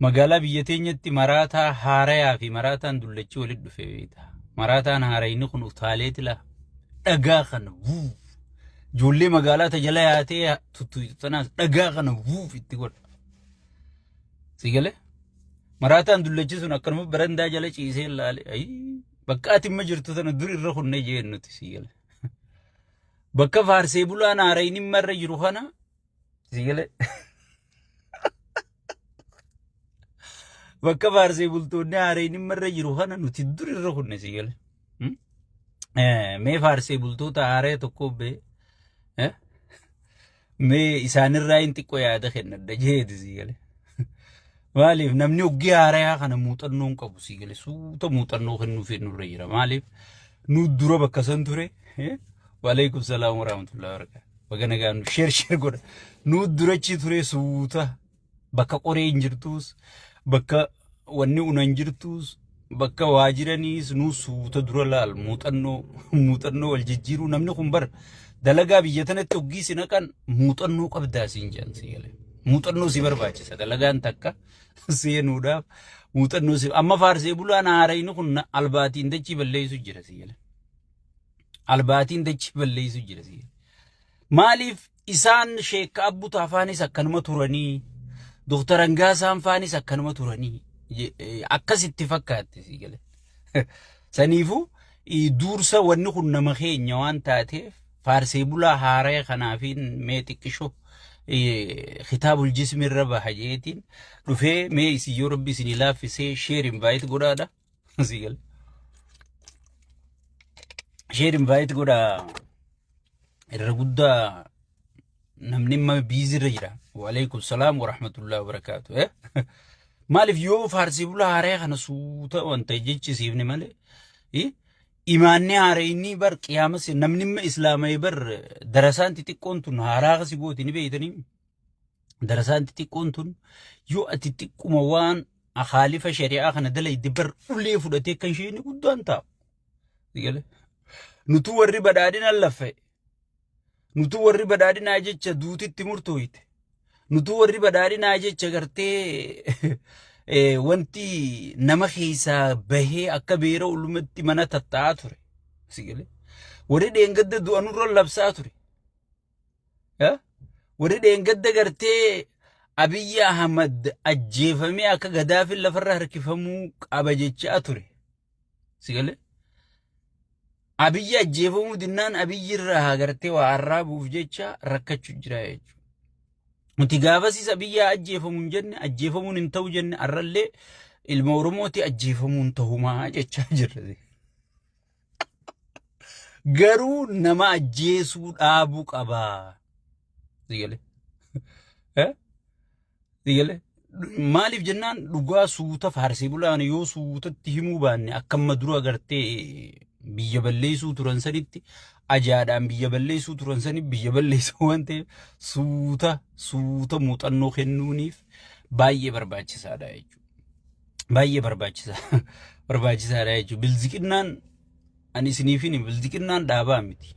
Magaalaa biyya teenyatti maraataa haarayaa fi maraataan dullachii walitti dhufe beekta. Maraataan haarayni kun utaalee tila dhagaa kana vuuf. Ijoollee magaalaa tajala yaatee tuttuutu tanaas dhagaa kana vuuf itti godha. Si galee? Maraataan dullachii sun akkanuma barandaa jala ciisee ilaale. Ayii bakka ati amma jirtu sana dur irra kunnee jeen nuti si galee. Bakka faarsee bulaan haarayni marra jiru kana Sigilee. Bakka faarsee bultoonni haareen irra jiru kana nuti dur irra kunne sigilee. Hmm? Eh, Mee faarsee bultoota haaree tokko bee. Eh? Mee isaanirraa hin xiqqoo yaada kennadha jeeti sigilee. Maaliif namni hoggii haarayaa kana muuxannoo hin qabu sii galee suuta muuxannoo kennuufiin nurra jira. Maaliif nu dura bakka san ture. Waalaikum salaam warahmatullahi wabarakatuh. Baga nagaan nu sheer sheer godha. Nu durachi ture suuta bakka qoree hin jirtuus bakka wanni una hin jirtuus bakka waa jiraniis nuu suuta dura laal muuxannoo muuxannoo wal jijjiiruu namni kun bar dalagaa biyya tanatti hoggii si naqan muuxannoo qabdaa siin jedhan si galee muuxannoo si barbaachisa dalagaan takka seenuudhaaf muuxannoo si amma faarsee bulaan haarayni kun na- albaatiin dachii balleessu jira si galee albaatiin dachii balleessu jira si galee maaliif Isaan Sheekka Abbutaa faanis akkanuma turanii, Dooktar Angaasaan faanis akkanuma turanii akkasitti fakkaatte sii galee. Saniifuu duursa wanni kun nama keenya waan taateef faarsee bulaa haaraya kanaafiin mee xiqqisho kitaabul jismi irra baha jeetiin dhufee mee isin yoo rabbi isin laaffisee sheer invaayit godhaadha. Sii gale. Sheer invite godha irra guddaa namni amma biizii irra jira. Waaleykum salaam wa rahmatullahi wa barakaatu. eh? Maaliif yoo faarsii bulaa haaree kana suuta wanta jechisiifne malee eh? imaanni haaree inni bar qiyaama si- namni amma islaama'ee bar darasaan xixiqqoon tun haaraa kasi gooti ni beeytanii. Darasaan xixiqqoon tun yoo ati xiqquma waan akaalifa shari'aa kana dalayde bar ulee fudhatee kan isheen guddaan taa'u. Nutu warri badhaadhina laffe. Nutu warri badhaadhinaa jecha duutitti murtooyte. Nutu warri badhaadhinaa jecha gartee wanti nama keessaa bahee akka beera ulumatti mana tatta'aa ture. Warri dheengadda du'anurra labsaa ture. Warri dheengadda gartee Abiyyi Ahmad ajjeefamee akka Gadaafiin lafarra harkifamuu qaba jechaa ture. Si galee? Abiyyi ajjeefamuu dinnaan Abiyyi irraa hagartee waa arraabuuf jecha rakkachuu jira jechuudha. Nuti gaafasiis Abiyyi haa ajjeefamu hin jenne ajjeefamuun hin ta'u jenne arrallee ilma Oromooti ajjeefamuun ta'umaa jechaa jirra. Garuu nama ajjeesuu dhaabuu qaba. Sigalee. Eh? Sigalee. Maaliif jennaan dhugaa suuta faarsee bulaan yoo suutatti himuu baanne akka amma dura agartee biyya balleessuu turan sanitti ajaadhaan biyya balleessuu turan sani biyya balleessan waan ta'eef suuta suuta muuxannoo kennuuniif baay'ee barbaachisaadha jechuudha. baay'ee barbaachisa barbaachisaadha jechuudha. Bilziqinnaan ani isiniif hin bilziqinnaan dhaabaa miti.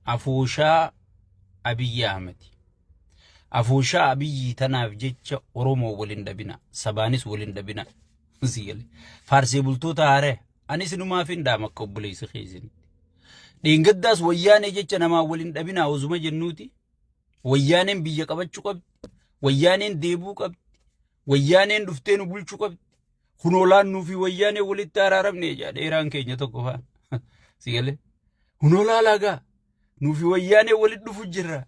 Afooshaa Abiyyi Ahmed. Afooshaa Abiyyi tanaaf jecha Oromoo waliin dhabina. Sabaanis waliin dhabina. Sigalee. Faarsee bultoota haaree. Ani isinumaaf hin dhaama akka obboleessa keessanitti. Dheengaddaas wayyaanee jecha namaa waliin dhabinaa osuma jennuuti. Wayyaaneen biyya qabachuu qabdi. Wayyaaneen deebuu qabdi. Wayyaaneen dhuftee nu bulchuu qabdi. Kun olaannuu fi wayyaanee walitti araaramne jedha dheeraan keenya tokko faan. Si galee? Kun olaalaa gaa. Nuufi wayyaanee walitti dhufu jirra.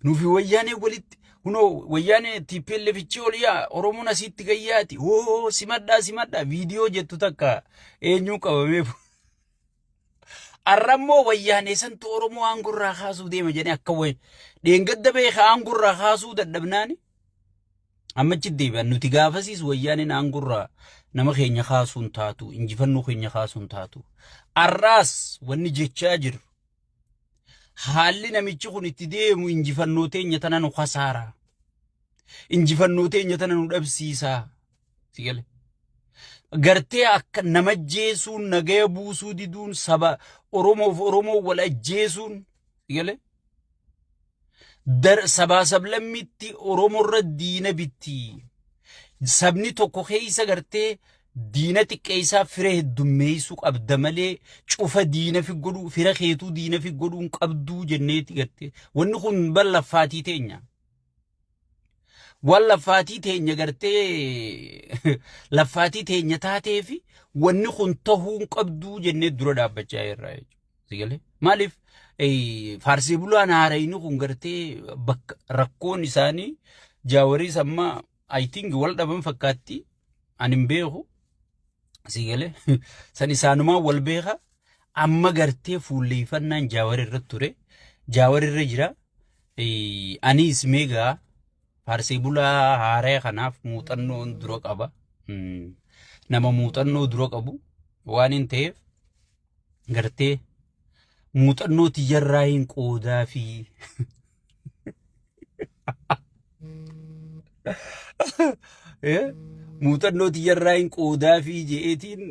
Nuufi wayyaanee walitti kunoo wayyaanee TPLF ichi ol yaa Oromoon asitti gayyaati. Hoo simadhaa simadhaa viidiyoo jettu takka eenyuun qabamee fu- Arrammoo wayyaanee santu Oromoo aangurraa kaasuu deema jedhee akka wayi. Dheengadda beeka aangurraa kaasuu dadhabnaani. Amma achi deebi'an nuti gaafasiis wayyaaneen aangurraa nama keenya kaasuun taatu injifannoo keenya kaasuun taatu. Arraas wanni jechaa jiru haalli namichi kun itti deemu injifannoo teenya tana nu kasaara. Injifannoo teenya tana nu dhabsiisaa. Si gale. Gartee akka nama ajjeesuun nagaya buusuu diduun saba Oromoof Oromoo wal ajjeesuun si gale. sabaa sablammitti Oromoorra diina bitti. Sabni tokko keessa gartee diina xiqqeessaa fira heddummeessuu qabda malee cufa diina fi godhuu fira keetuu diina fi godhuu hin qabduu jenneeti gartee. Wanni kun ballaffaati teenya. Waan laffaatii teenya gartee laffaatii teenya taatee fi wanni kun tahuu hin qabduu jennee dura dhaabbachaa jirra jechuudha. Si galee? Maaliif eh, faarsee bulaan haarayni kun gartee bakka rakkoon isaanii jaawariis amma I think wal dhaban fakkaatti ani hin beeku. Sii galee san isaanumaan wal beeka amma gartee fuulleeffannaan jaawar irra ture jaawar irra jira Eh, anis meegaa faarsee bulaa haaraya kanaaf muuxannoon dura qaba Mm. nama muuxannoo dura qabu waan hin ta'eef gartee muuxannoo tiyyarraa hin qoodaa fi muuxannoo tiyyarraa hin qoodaa fi je'eetiin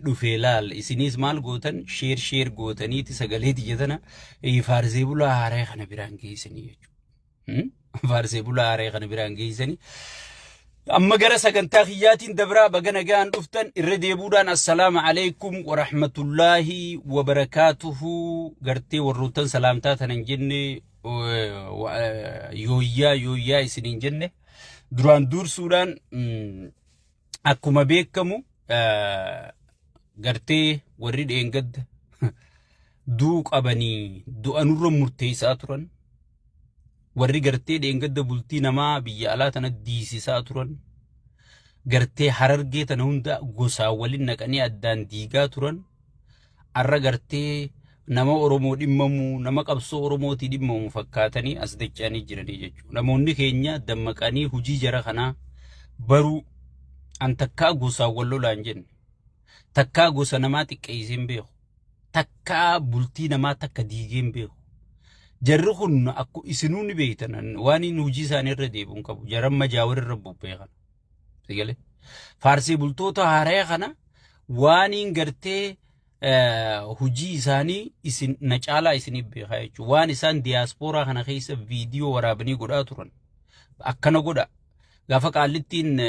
dhufee laal isiniis maal gootan sheer sheer gootaniiti sagalee tiyya tana faarsee bulaa haaree kana biraan geessanii jechuudha. Faarsee bulaa haree kana biraan geessanii. Amma gara sagantaa kiyyaatiin dabraa baga nagaan dhuftan irra deebuudhaan assalaamu alaikum wa rahmatullaahi wa barakaatuhu gartee warroottan salaamtaa tanan jenne yooyyaa yooyyaa isiniin jenne duraan duursuudhaan akkuma beekamu gartee warri dheengadda duu qabanii du'anurra murteessaa turan warri gartee dheengadda bultii namaa biyya alaa tana diisisaa turan gartee harargee tana hunda gosaan waliin naqanii addaan diigaa turan Arra gartee nama Oromoo dhimmamu, nama qabsoo Oromootii dhimmamu fakkaatanii as dacha'anii jiranii jechuudha. Namoonni keenya dammaqanii hujii jara kanaa baruu an takkaa gosaan wal lolaa hin jenne. Takkaa gosa namaa xiqqeessee hin beeku. Takkaa bultii namaa takka diigee hin beeku. Jarri kun akku isinuu ni beektan waan inni hujii isaanii irra deebi'u hin qabu. Jaran majaa warra irra bubbee kana. Sigale. Faarsee bultoota haaraya kana waaniin gartee hojii isaanii isin na caalaa isiniif beekaa jechuudha. Waan isaan diyaaspooraa kana keessa viidiyoo waraabanii godhaa turan. Akkana godha. Gaafa qaallittiin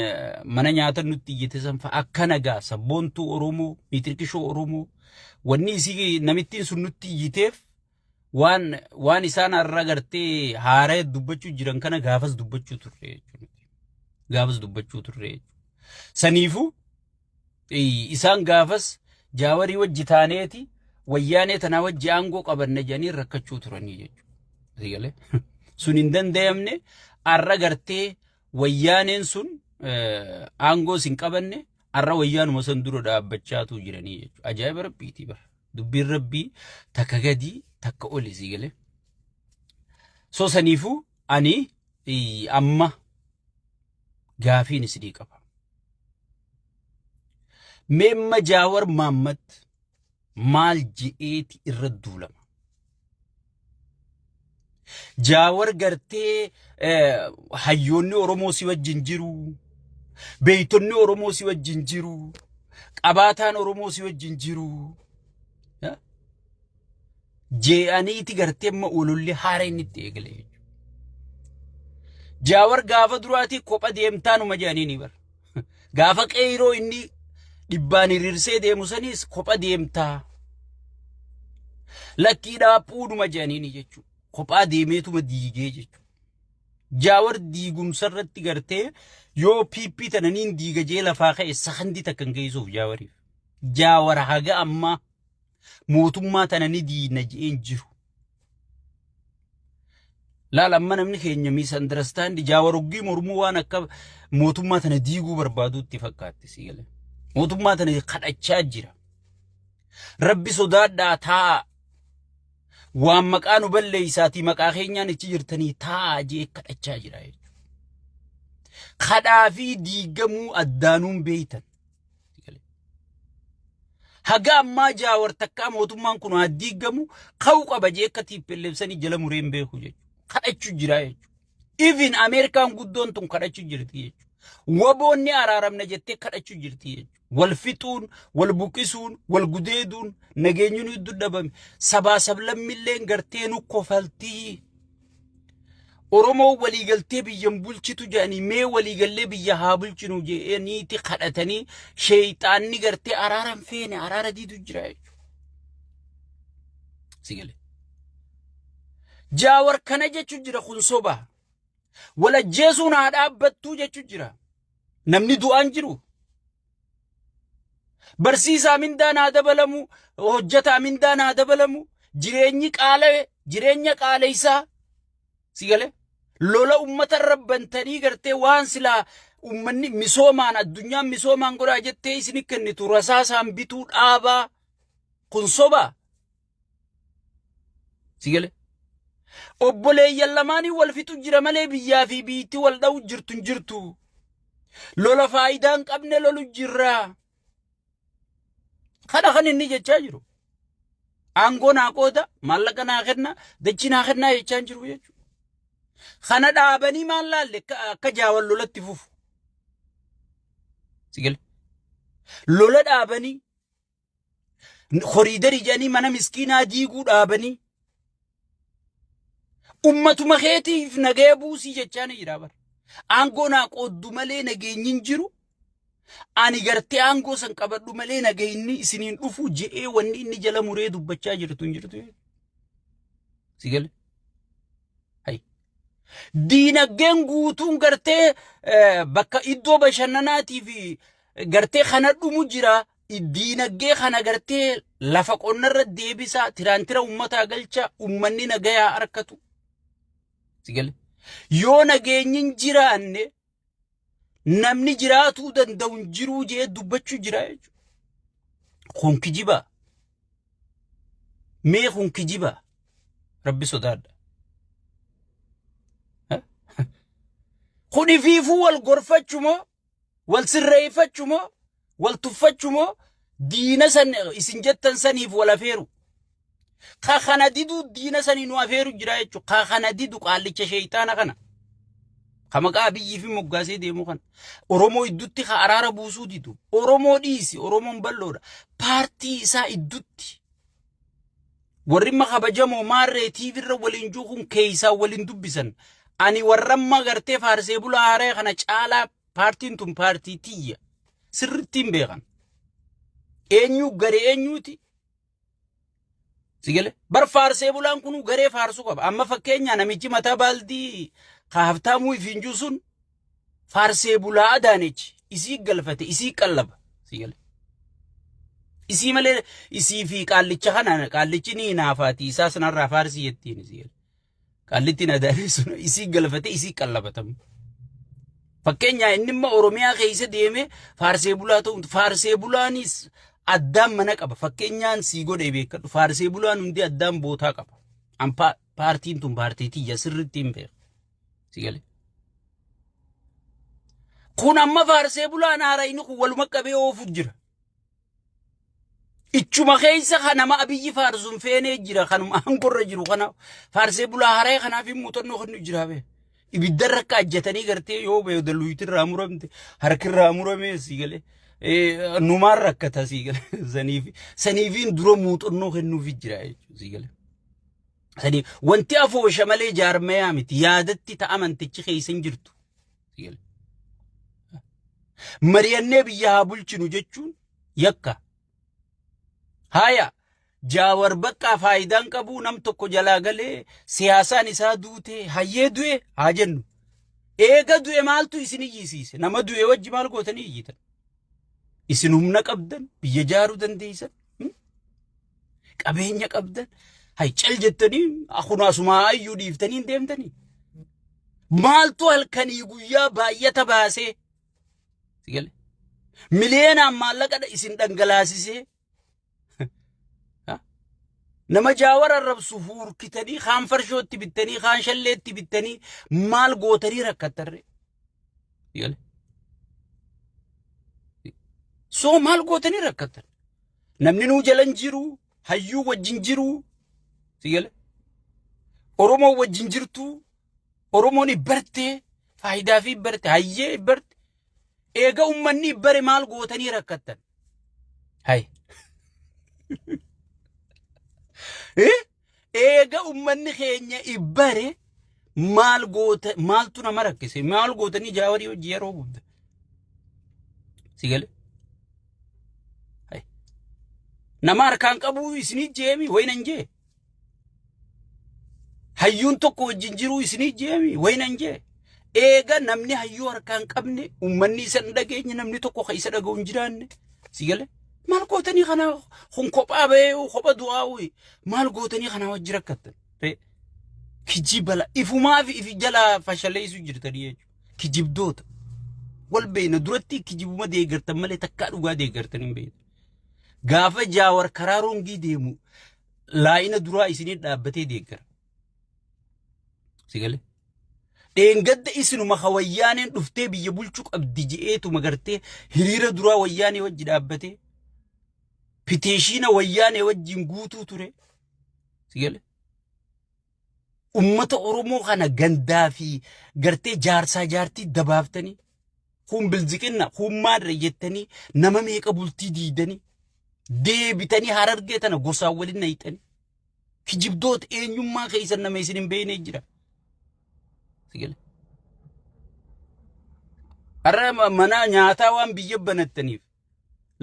mana nyaata nutti iyyite san fa'a akkana gaa sabboontuu Oromoo, miitirkishoo Oromoo wanni isii namittiin sun nutti iyyiteef waan waan isaan har'a gartee haaree dubbachuu jiran kana gaafas dubbachuu turre jechuudha. Gaafas dubbachuu turre jechuudha. Saniifuu eh, isaan gaafas jaawarii wajji taaneeti wayyaanee tanaa wajji aangoo qabanne jedhanii rakkachuu turanii jechuudha. Asii galee. Sun hin danda'amne har'a gartee wayyaaneen sun eh, aangoo sin qabanne Arra wayyaanuma san dura dhaabbachaatuu jiranii jechuudha. Ajaa'iba rabbiiti bara. Dubbiin rabbii takka gadii takka oli sii galee. So saniifuu ani ii, amma gaafiin isinii qaba. Meemma Jaawar Maammat maal je'eeti irra duulama? Jaawar gartee hayyoonni Oromoo si wajjin jiru, beeytonni Oromoo si wajjin jiru, qabaataan Oromoo si wajjin jiru. Jee'aniiti gartee amma ololli haareen itti eegale jechuudha. Jaawar gaafa duraatii kopha deemtaanuma jedhanii ni bara. Gaafa qeeyroo inni dhibbaan hiriirsee deemu saniis kopha deemtaa. Lakkii dhaaphuudhuma jedhaniini jechuudha. Kophaa deemeetuma diigee jechuudha. Jaawar diigumsa irratti gartee yoo PP tananiin diiga jee lafaa ka'e sakandii takkan geessuuf jaawariif. Jaawar haga ammaa mootummaa tanani diina je'een jiru. Laal amma namni keenya miisandarastandi jaawaroggii mormuu waan akka mootummaa tana diiguu barbaaduutti fakkaatti si gale. Mootummaa tana kadhachaa jira. Rabbi sodaadhaa taa'a. Waan maqaa nu balleessaatii maqaa keenyaan ichi jirtanii taa'a jee kadhachaa jira jechuudha. Kadhaa fi diigamuu addaanuun beeytan. Haga ammaa jaawar takkaa mootummaan kun haa diigamu ka'u qaba jee akka tiippilleebsanii jala mureen beeku jechuudha. Kadhachu jira jechuudha. Even Ameerikaan guddoon tun kadhachu jirti jechuudha. Waboonni araaramna jettee kadhachu jirti jechuudha. Wal fixuun, wal buqisuun, wal gudeeduun nageenyuun hedduu dhabame. Sabaa sablammilleen gartee nu kofaltii. Oromoo waliigaltee biyyan bulchitu jedhanii mee waliigallee biyya haa bulchinu jedhaniiti kadhatanii sheeyxaanni gartee araara hin feene araara diidu jira jechuudha. Si galee. Jaawar kana jechuun jira kun soba. Walajjeesuun haa dhaabbattuu jechuun jira. Namni du'aan jiru Barsiisaa mindaan haa dabalamu, hojjetaa mindaan haa dabalamu, jireenyi qaala'e, jireenya qaaleysaa si galee lola ummata irra bantanii gartee waan silaa ummanni misoomaan addunyaan misoomaan godhaa jettee isin kennitu rasaasaan bituu dhaabaa kun sobaa. Si galee? Obboleeyyan lamaanii wal fixu jira malee biyyaa fi biitti wal dha'u jirtu hin jirtu. Lola faayidaa hin qabne lolu jirra. Kana kan inni jechaa jiru. Aangoo naa qooda, maallaqa naa kenna, dachii naa kennaa jechaa hin jiru jechuudha. Kana dhaabanii maal laalle akka akka jaawan lolatti fufu. Si galee? Lola dhaabanii Koriidarii jedhanii mana miskiinaa diiguu dhaabanii. Ummatuma keetiif nagaya buusii jechaa ni jira bara. Aangoo naa qooddu malee nageenyi hin jiru. Ani gartee aangoo san qabadhu malee nageenyi isiniin dhufu je'ee wanni inni jala muree dubbachaa jirtu hin jirtu. Si gale? Hayi. Diinagdeen guutuun gartee eh, bakka iddoo bashannanaatii fi gartee kana dhumu jira. diinagdee kana gartee lafa qonnarra deebisaa tiraantira ummataa galchaa ummanni nagayaa arkatu. Sigale. Yoo nageenyi hin jiraanne namni jiraatuu danda'u hin jiruu jee dubbachuu jira jechuudha. Kun kijibaa. Mee kun kijibaa. Rabbi sodaadha. Kun ifiifuu wal gorfachumoo Wal sirreeffachu moo wal tuffachu moo diina san isin jettan saniif wal afeeru. Ka kana didu diina sanii nu afeeru jira jechuudha. Ka kana didu qaallicha sheeyxaana kana. Ka maqaa Abiyyii fi moggaasee deemu kana. Oromoo iddutti ka araara buusuu didu. Oromoo dhiisi. Oromoon bal'oodha. Paartii isaa iddutti. Warrimma kabajamoo maarree TV irra waliin jiru kun keessaa waliin dubbisan. Ani warramma gartee faarsee bulaa haaree kana caalaa paartiin tun paartii tiyya. Sirrittiin beekan. Eenyu garee eenyuuti? Sigale bar faarsee bulaan kun garee faarsuu qaba. Amma fakkeenyaa namichi mataa baaldii ka haftaamuu ifiin jiru sun faarsee bulaa Adaanech isii galfate isii qallaba sii gale. Isii malee isii fi qaallicha kana qaallichi ni hinaafaati isaa sanarraa faarsii jettiin isii gale. Qaallittiin Adaanech sun isii galfate isii qallabatamu. Fakkeenyaa inni immoo Oromiyaa keessa deemee faarsee bulaa ta'uun faarsee bulaanis addaan mana qaba. Fakkeenyaan sii godhee beekadhu faarsee bulaan hundi addaan bootaa qaba. An pa- paartiin tun paartii tiyya sirriitti hin beeku. Si gale. Kun amma faarsee bulaan haara inni kun waluma qabee oofuuf jira. Ichuma keessa kan nama abiyyi faarsuun feenee jira kanuma aangorra jiru kana faarsee bulaa haree kanaaf hin muuxannoo kennu jira bee. Ibidda irra akka ajjatanii gartee yoo bee daluuyti irraa muramte harki irraa muramee si galee. Numaan rakkata si galee saniif saniifiin dura muuxannoo kennuuf jira jechuudha si galee. Sadi, wanti afoosha malee jaarmayaa miti. Yaadatti ta amantichi keessa hin jirtu. Mari'annee biyya haa bulchinu jechuun yakka. Haaya, jaawar baqqaa faayidaan qabu nam tokko jalaa galee siyaasaan isaa duute hayyee du'e haa jennu. Eega du'e maaltu isin iyyisiise? Nama du'e wajji maal gootanii iyyitan? Isin humna qabdan, biyya jaaruu dandeessan. Qabeenya qabdan hay cal jettanii akunaa sumaa ayyuu dhiiftanii hin deemtanii. Maaltu halkanii guyyaa baay'ata baasee si gale. Miliyeenaan maallaqa dha- isin dhangalaasisee ha? nama jaawar arrabsu fuurkitanii kaan farshootti bittanii kaan shalleetti bittanii maal gootanii rakkattarree. Si gale. Soo maal gootanii rakkattan? Namni nuu jalan jiru hayyuu wajjin jiru sigale Oromoo wajjin jirtu Oromoon ibbarte faayidaa fi ibbarte hayyee ibbarte eega ummanni ibbare maal gootanii rakkattan. Hay. Eh? Eega ummanni keenya ibbare maal goota maaltu nama rakkise maal gootanii jaawarii hojii yeroo gudda. Si gale? Nama harkaan qabuu isinii jeemi wayinan jee. Hayyuun tokko wajjin jiruu isinii jeemi wayinan jee. Eega namni hayyuu harkaa hin qabne uummanni isa hin dhageenye namni tokko kan isa dhaga'u hin jiraanne si gale maal gootanii kana kun kophaa ba'ee kopha du'aa uyi maal gootanii kanaa wajji rakkattan Ree, kijibala ifumaa fi ifi jala fashaleessu jirtanii jechuudha kijibdoota wal beekna duratti kijibuma deeggartan malee takkaa dhugaa deeggartan hin beekne gaafa jaawar karaa rongii deemu laayina duraa isinii dhaabbatee deeggara Sigale. Dheengadda isinuma ka wayyaaneen dhuftee biyya bulchuu qabdi je'eetuma gartee hiriira duraa wayyaanee wajji dhaabbatee piteeshiina wayyaanee wajjin guutuu ture. Sigale. Ummata Oromoo kana gandaa fi gartee jaarsaa jaartii dabaaftanii kun bilziqinna kun maadra jettanii nama meeqa bultii diidanii deebitanii harargee tana gosaan waliin nayxanii. Kijibdoota eenyummaa keessan nama isin hin beekne jira. Sigale. Har'a ma- mana nyaataa waan biyya banattaniif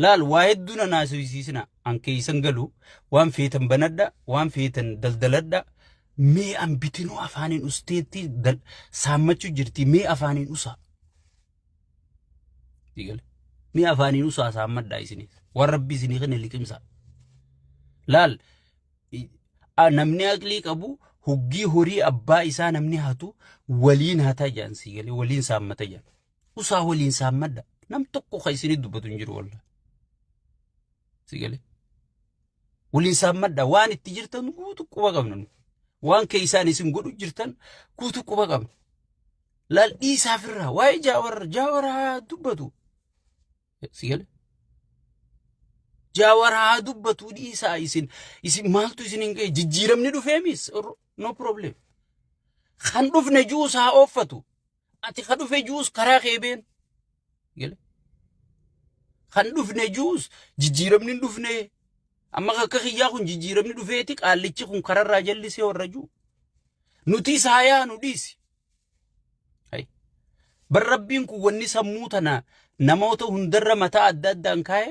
laal waa hedduu na naasisiisina an keessan galu waan feetan banadha waan feetan daldaladha mee an bitinuu afaaniin usteetti dal- saammachuu jirti mee afaaniin usaa. Eegale. Ni afaaniin usaa saammadhaa isiniif. Waan rabbi isinii kenne liqimsaa. Laal i- a- namni aqlii qabu hoggii horii abbaa isaa namni hatu waliin hataa jedhan sii galee waliin saammata jedhan. Usaa waliin saammadha. Nam tokko kan isinii dubbatu hin jiru wallah. Sii galee. Waliin saammadha. Waan itti jirtan guutu quba qabna. nu. Waan keessaan isin godhu jirtan guutu quba qabna. Laal dhiisaa firraa waa'ee jaawar jaawar haa dubbatu. Si gale? Jaawar haa dubbatu dhiisaa isin isin maaltu isin hin ga'e jijjiiramni dhufeemis no problem. Kan dhufne juus haa ooffatu. Ati kan dhufe juus karaa kee been. Gale? Kan dhufne juus jijjiiramni hin dhufne. Amma akka kiyyaa kun jijjiiramni dhufeeti qaallichi kun kararraa jallisee warra juu. Nuti isaa yaanu dhiisi. Bar rabbiin kun wanni sammuu tana namoota hundarra mataa adda addaan kaa'e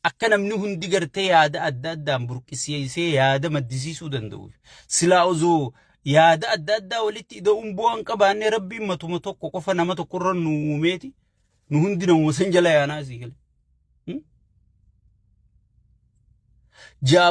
akka namni hundi gartee yaada adda addaan burqisiisee yaada maddisiisuu danda'u. Silaa osoo yaada adda addaa walitti ida'uun bu'aan qabaannee rabbiin matuma tokko qofa nama tokkorra nu uumeeti nu hundi namuma san jala yaanaa sii gale.